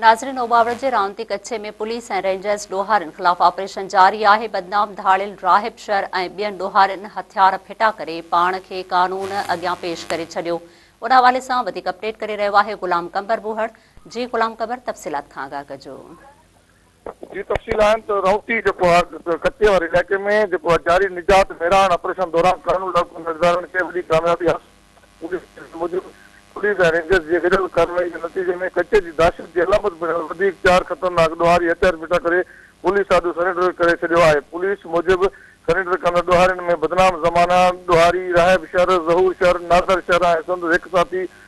ناظرين اوٻاوڙ جي رانتي ڪڇي ۾ پوليس ۽ رينجرز ڏوهارين خلاف آپريشن جاري آهي بدنام ڌاڙيل راهب شر ۽ ٻين ڏوهارين هٿيار ڦٽا ڪري پاڻ کي قانون اڳيان پيش ڪري ڇڏيو ان حوالي سان وڌيڪ اپڊيٽ ڪري رهيو آهي غلام قمبر ٻوهڙ جي غلام قمبر تفصيلات کان آگاهه ڪجو جي تفصيل آهن ته رائوتي جيڪو آهي ڪچي واري علائقي ۾ جيڪو آهي جاري نجات ميراڻ آپريشن دوران قانون لاڳو ڪندڙ ادارن کي وڏي ڪاميابي حاصل ٿي، پوليس جي ذريعي موجب پوليس ۽ رينجرز جي گڏيل ڪارروائي جي نتيجي ۾ ڪچي جي دهشت جي علامت بڻيل وڌيڪ چار خطرناڪ ڏوهاري هٿيار ڦٽا ڪري پوليس آڏو سرينڊر ڪري ڇڏيو آهي، پوليس موجب سرينڊر ڪندڙ ڏوهارين ۾ بدنام زمانه ڏوهاري، راهب شر، ظهور شر، نادر شر ۽ سندس هڪ ساٿي